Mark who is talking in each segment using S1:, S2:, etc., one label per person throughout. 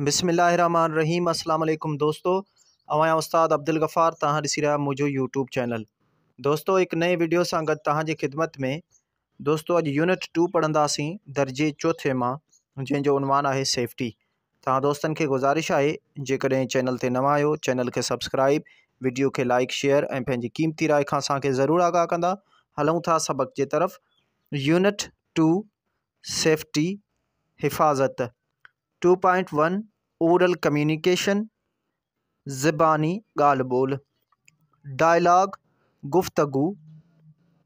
S1: بسم الله الرحمٰن الرحيم اسلام عليڪم دوستو اوهان يا استاد عبدالغفار توهان ڏسي رهيا منهنجو يوٽيوب چينل دوستو هڪ نئين ويڊيو سان گڏ توهان جي خدمت ۾ دوستو اڄ يونٽ ٽو پڙهنداسين درجي چوٿين مان جنهن جو عنوان آهي سيفٽي توهان دوستن کي گذارش آهي جيڪڏهن چينل تي نوان آهيو چينل کي سبسڪرائب ويڊيو کي لائڪ شيئر ۽ پنهنجي قيمتي راء کان اسان کي ضرور آگاهه ڪندا هلون ٿا سبق جي طرف يونٽ ٽو سيفٽي، حفاظت، two point one oral communication, زباني ڳالهه ٻولهه، ڊائلاگ، گفتگو،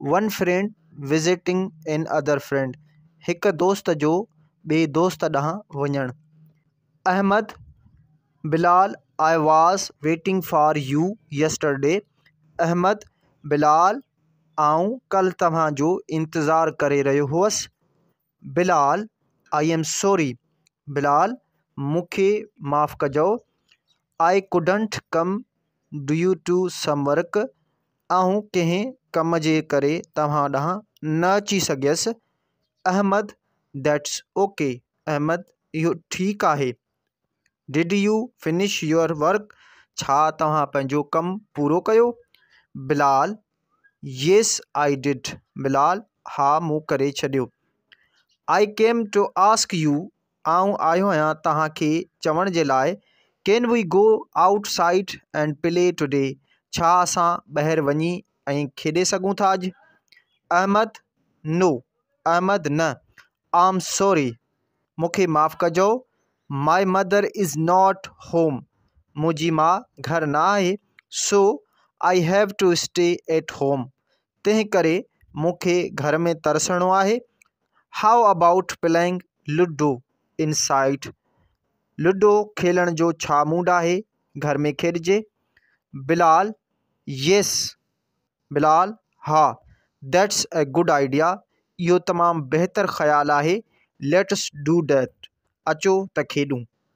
S1: one friend visiting another friend, هڪ دوست جو ٻئي دوست ڏانهن وڃڻ، Ahmed, Bilal, I was waiting for you yesterday, Ahmed, Bilal, آئون ڪلهه توهان جو انتظار ڪري رهيو هوس Bilal I am sorry Bilal مون کي معاف ڪجو I couldn't come due to some work آئون ڪنهن ڪم جي ڪري توهان ڏانهن نه اچي سگهيس احمد ديٽس اوڪي احمد اهو ٺيڪ آهي did you finish your work ڇا توهان پنهنجو ڪم پورو ڪيو؟ Bilal, yes I did Bilal, ها مون ڪري ڇڏيو I came to ask you آئون آيو آهيان توهان کي چوڻ جي لاء can we go outside and play today ڇا اسان ٻاهر وڃي ائين کيڏي سگهون ٿا اڄ؟ احمد، نو احمد نه آئم سوري مون کي معاف ڪجو my mother is not home منهنجي ماء گهر نه آهي so I have to stay at home تنهن ڪري مون کي گهر ۾ ترسڻو آهي how about playing ludo inside ludo کيلڻ جو ڇا موڊ آهي گهر ۾ کيڏجي بلال يس بلال، ها، ديٽس اي گڊ آئيڊيا، اهو تمام بهتر خيال آهي، ليٽس ڊو ڊيٽ، اچو ته کيڏون.